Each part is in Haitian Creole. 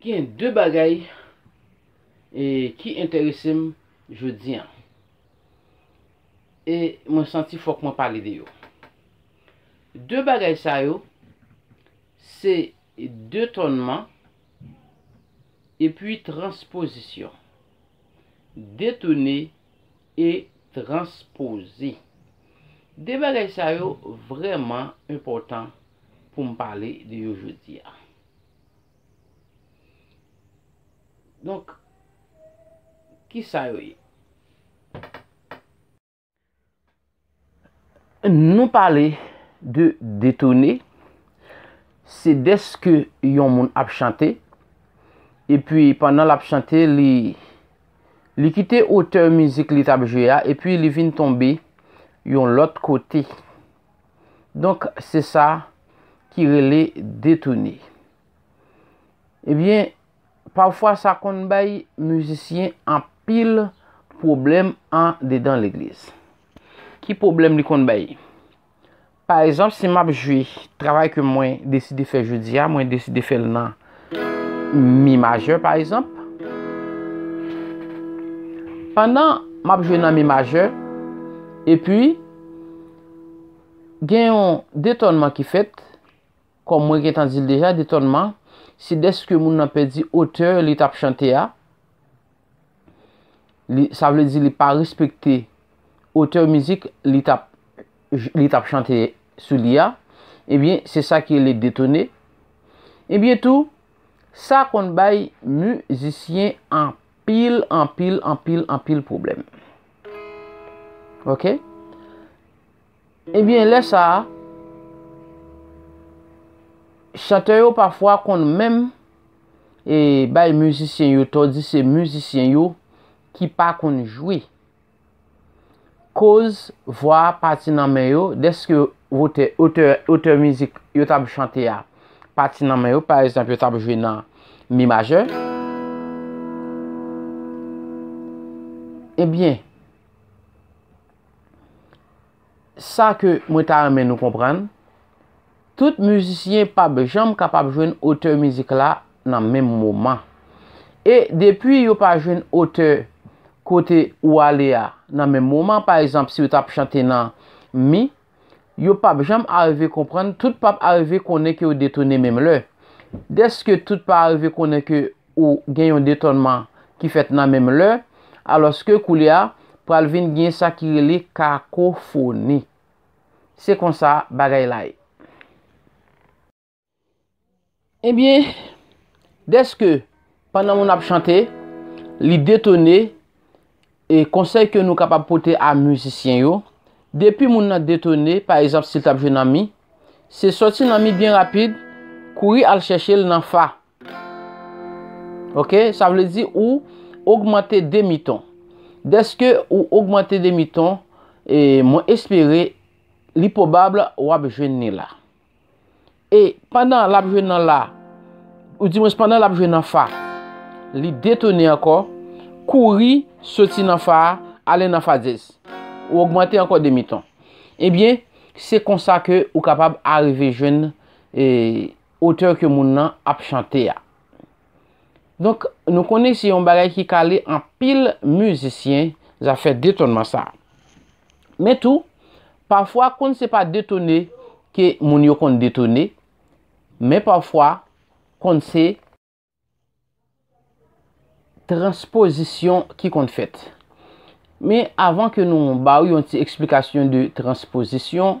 Gen de bagay e ki enterese m jodi an. E mwen santi fòk mwen pale de yo. De bagay sa yo, se detònman epi transpozisyon. Detone e transpoze. De bagay sa yo vrèman enpòtan pou m pale de yo jodi a. Donk, ki sa yo ye? Nou pale de detone, se dèske yon moun ap chante, epi pandan l ap chante, li kite otè mizik li t ap jwe a, epi li vin tonbe yon lòt kote. Donk se sa ki rele detoune. Ebyen, pafwa sa konn bay mizisyen anpil pwoblèm an dedan legliz. Ki pwoblèm li konn bay? Pa ezanp si map jwe travay ke mwen deside fè jodi a, mwen deside fè l nan Mi majè pa egzanp. Pandan m ap jwe nan mi majè, epi gen yon detònman ki fèt, kòm mwen gentan di l deja, detònman se dèske moun nan pèdi otè li t ap chante a. sa vle di li pa respekte otè mizik li tap li tap chante sou li a, ebyen eh se sa ki rele detone. Ebyen eh tou, sa konn bay mizisyen anpil, anpil, anpil, anpil pwoblèm. Ok? Ebyen lè sa a, chantè yo pafwa konn menm bay mizisyen yo tò di se mizisyen yo ki pa konn jwe. Koz vwa a pati nan men yo dèske wotè, otè, otè mizik yo t ap chante a pati nan men yo, pa egzanp yo t ap jwe nan mi majè, ebyen sa ke mwen ta renmen nou konprann, tout mizisyen p ap janm kapab jwenn otè mizik la nan menm moman. E depi yo pa jwenn otè kote ou ale a nan menm moman, pa egzanp si ou t ap chante nan Mi, yo pap janm arive konprann, tout pap arive konnen ke yo detone menm lè. Dèske tout pa arive konnen ke ou gen yon detònman ki fèt nan menm lè, alòske koulye a, pral vin gen sa ki rele kakofoni. Se konsa bagay la ye. Ebyen, dèske pandan moun ap chante, li detone, e konsèy ke nou kapab pote a mizisyen yo, depi moun nan detone, pa ezanp si l tap jwe nan mi, se soti nan mi byen rapid, kouri al chèche l nan fa. Ok, sa vle di ou ogmante demi ton. Dèske ou ogmante demi ton, e mwen espere li pwobab wap jwenn ni la. E pandan l ap jwe nan la, ou di mwens pandan l ap jwe nan fa, li detone ankò, kouri soti nan fa a, ale nan fa dyèz. Ou ogmante ankò demiton. Ebyen, se konsa ke ou kapab arive jwenn otè ke moun nan ap chante a. Donk nou konnen se yon bagay ki kale anpil mizisyen zafè detonman sa. Men tou, pafwa konn se pa detone ke moun yo konn detone, men pafwa konn se transpozisyon ki konn fèt. Men avan ke nou ba ou yon ti eksplikasyon de transpozisyon,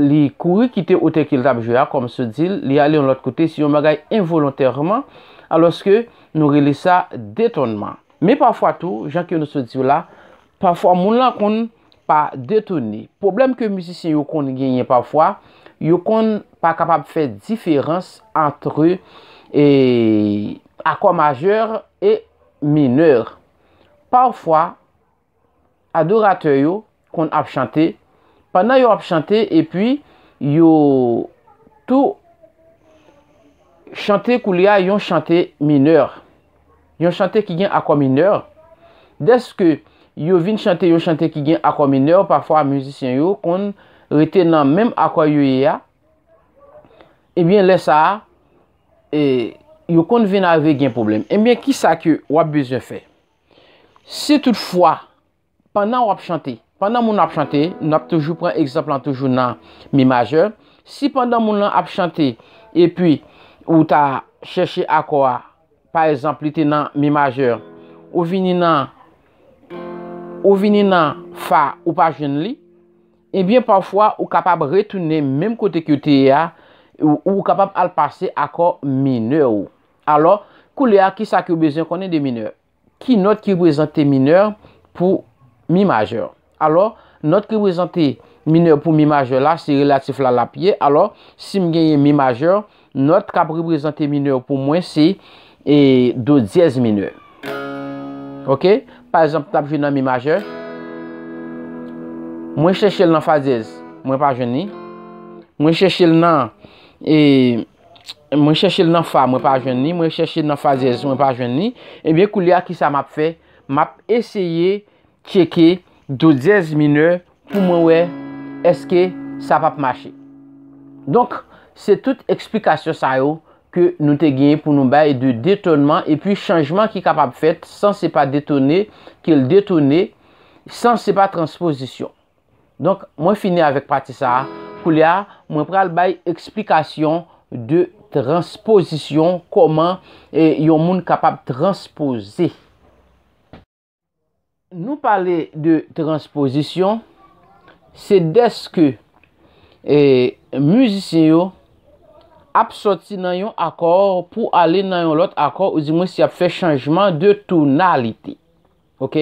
li kouri kite otè ke l t ap jwe a, kòm si w di l, li ale yon lòt kote, se yon bagay envolontèman, alòske nou rele sa detònman. Men pafwa tou, jan ke nou sot di w la, pafwa moun lan konn pa detone. Pwoblèm ke mizisyen yo konn genyen pafwa, yo konn pa kapab fè diferans antre akò majè e minè. Pafwa, adoratè yo konn ap chante, pandan yo ap chante epi yo tou chante koulye a yon chante minè, yon chante ki gen akò minè, dèske yo vin chante yon chante ki gen akò minè, pafwa mizisyen yo konn rete nan menm akò yo ye a, ebyen eh lè sa a, e, yo konn vin arive gen pwoblèm. Ebyen, kisa ke w ap bezwen fè? Si tout fwa, pandan wap chante, pandan moun ap chante, nou ap toujou pran egzanp lan toujou nan mi majè, si pandan moun lan ap chante, epi ou ta chèche akò a, pa egzanp li te nan mi majè, ou vini nan, ou vini nan fa, ou pa jwenn li, ebyen eh pafwa ou kapab retounen menm kote ke ou te ye a, ou kapab al pase akò minè ou. Alò, koulye a, ki sa ke ou bezwen konnen de minè? Ki nòt ki reprezante minè pou mi majè? Alò, nòt ki reprezante minè pou mi majè la, se relatif la l ap ye. Alò, si m genyen mi majè, nòt k ap reprezante minè pou mwen se e do dyèz minè. Ok? Pa egzanp, m t ap jwe nan mi majè. Mwen chèche l nan fa dyèz. Mwen pa jwenn li. Mwen chèche l nan e. mwen chèche l nan fa mwen pa jwenn li, mwen chèche l nan fazèz mwen pa jwenn li, ebyen koulye a ki sa m ap fè, m ap eseye tcheke do dyèz minè pou mwen wè eske sa p ap mache. Donk, se tout eksplikasyon sa yo ke nou te genyen pou nou bay de detonman epi chanjman ki kapab fèt san se pa detone ke l detone, san se pa transpozisyon. Donk, mwen fini avèk pati sa a. Koulye a, mwen pral bay eksplikasyon de transpozisyon, kòman yon moun kapab transpoze. Nou pale de transpozisyon, se dèske mizisyen yo ap soti nan yon akò pou ale nan yon lòt akò, ou di mwen si y ap fè chanjman de tonalite. ok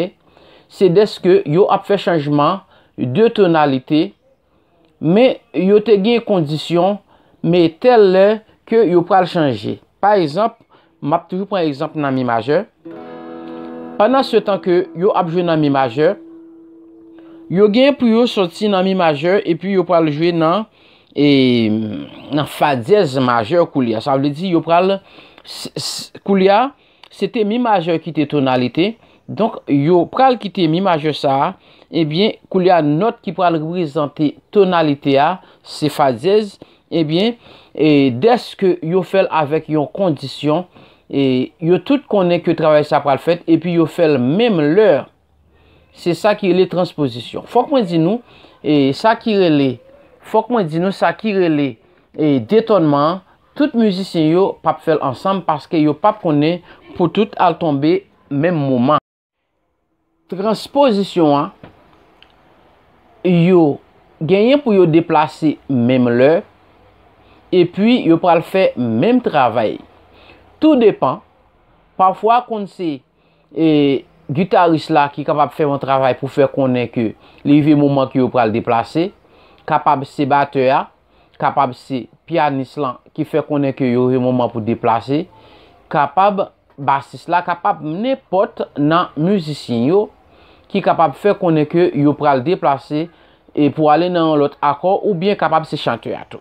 se deske yo ap fè chanjman de tonalite men yo te gen kondisyon men tèl lè ke yo pral chanje pa egzanp m ap toujou pran egzanp nan mi majè pandan se tan ke yo ap jwe nan mi majè yo gen pou yo soti nan mi majè epi yo pral jwe nan e nan fa dyèz majè koulya sa vle di yo pral koulya Se te mi majè ki te tonalite, donk yo pral kite mi majè sa a, ebyen koulye a nòt ki pral reprezante tonalite a se fa dyèz, ebyen e dèske yo fè l avèk yon kondisyon e yo tout konnen ke travay sa pral fèt epi yo fè l menm lè Se sa ki rele transpozisyon. Fòk mwen di nou, e, sa ki rele, fòk mwen di nou sa ki rele, e, detònman an, tout mizisyen yo p ap fè l ansanm paske yo p ap konnen pou tout al tonbe menm moman. Transpozisyon an, yo genyen pou yo deplase menm lè, epi yo pral fè menm travay. Tou depan, pafwa konn se. E guitarist la ki kapab fè yon travay pou fè konnen ke li rive moman ke yo pral deplase, kapab se batè a, kapab se pianist lan ki fè konnen ke yo rive moman pou deplase, kapab basist la, kapab nenpòt nan mizisyen yo ki kapab fè konnen ke yo pral deplase e pou ale nan yon lòt akò oubyen kapab se chantè a tou.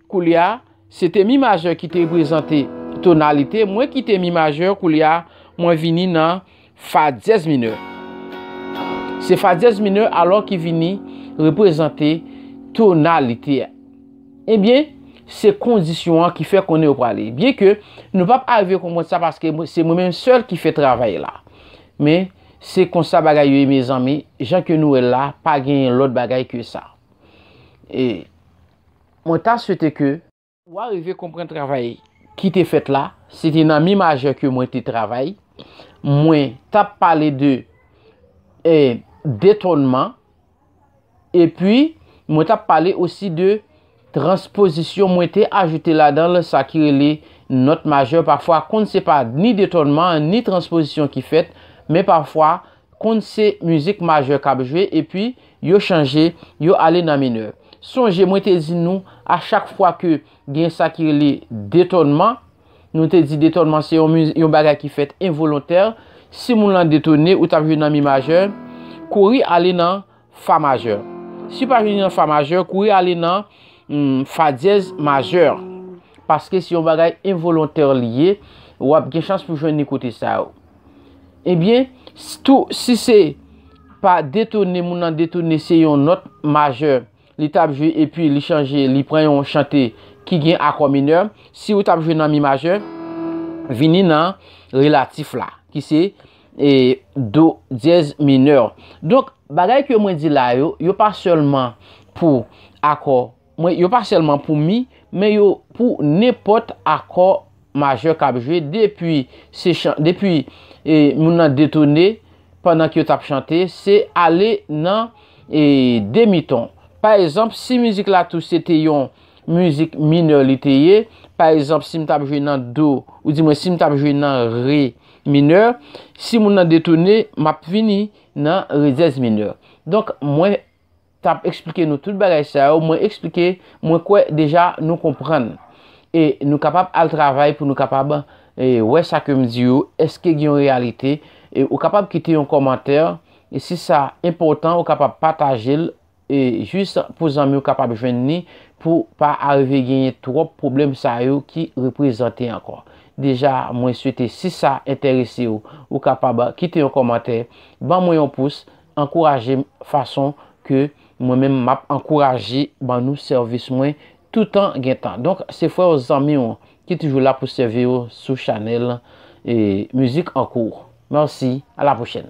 Koulya, se te mi majè ki te reprezante tonalite, mwen kite mi majè, koulya mwen vini nan fa dyèz minè. Se fa dyèz minè alò ki vini reprezante tonalite. Ebyen, se kondisyon an ki fè konnen yo prale. Byen ke nou pa pa arive konprann sa paske se mwen menm sèl ki fè travay la. Men, se konsa bagay yo ye mezanmi, jan ke nou wè la, pa genyen lòt bagay ke sa. E. Mwen ta swete ke ou arive konprann travay ki te fèt la, se te nan mi majè ke mwen te travay, mwen tap pale de detònman, epi mwen tap pale osi de transpozisyon, mwen te ajoute ladan l sa ki rele nòt majè, pafwa konn se pa ni detònman an, ni transpozisyon ki fèt, men pafwa konn se mizik majè kap jwe, epi Yo chanje, yo ale nan minè. Sonje mwen te di nou a chak fwa ke gen sa ki rele detònman, nou te di detònman se yon bagay ki fèt envolontè, si moun lan detone ou tap jwe nan mi majè, kouri ale nan fa majè. Si pa vini nan fa majè, kouri ale nan fa dyèz majè. Paske se yon bagay envolontè li ye, wap gen chans pou jwenn li kote sa yo. Ebyen, tou si se pa detone moun nan detone se yon nòt majè li t ap jwe epi li chanje li pran yon chante ki gen akò minè, si ou t ap jwe nan mi majè, vini nan relatif la ki se e do dyèz minè. Donk, bagay ke mwen di la yo, yo pa sèlman pou akò. Mwen yo pa sèlman pou mi, men yo pou nenpòt akò majè k ap jwe depi se chan depi e moun nan detone pandan ke yo t ap chante se ale nan e demi ton pa ezanp si mizik la tou se te yon mizik minè li te ye pa ezanp si m t ap jwe nan do ou di mwen si m t ap jwe nan re minè si moun nan detone m ap vini nan re dyèz minè donk mwen tap eksplike nou tout bagay sa yo mwen eksplike mwen kwè deja nou konprann e nou kapab al travay pou nou kapab wè sa ke m di yo eske gen yon reyalite e ou kapab kite yon kòmantè e si sa enpòtan ou kapab pataje l e jis pou zanmi ou kapab jwenn ni pou pa arive genyen twòp pwoblèm sa yo ki reprezante ankò deja mwen swete si sa enterese ou ou kapab kite yon kòmantè ban mwen yon pous Ankouraje m fason ke mwen menm m ap ankouraje ban nou sèvis mwen toutan gen tan. Donk se frè w zanmi w ki toujou la pou sèvi w sou chanèl Music en cours. Merci, à la prochaine!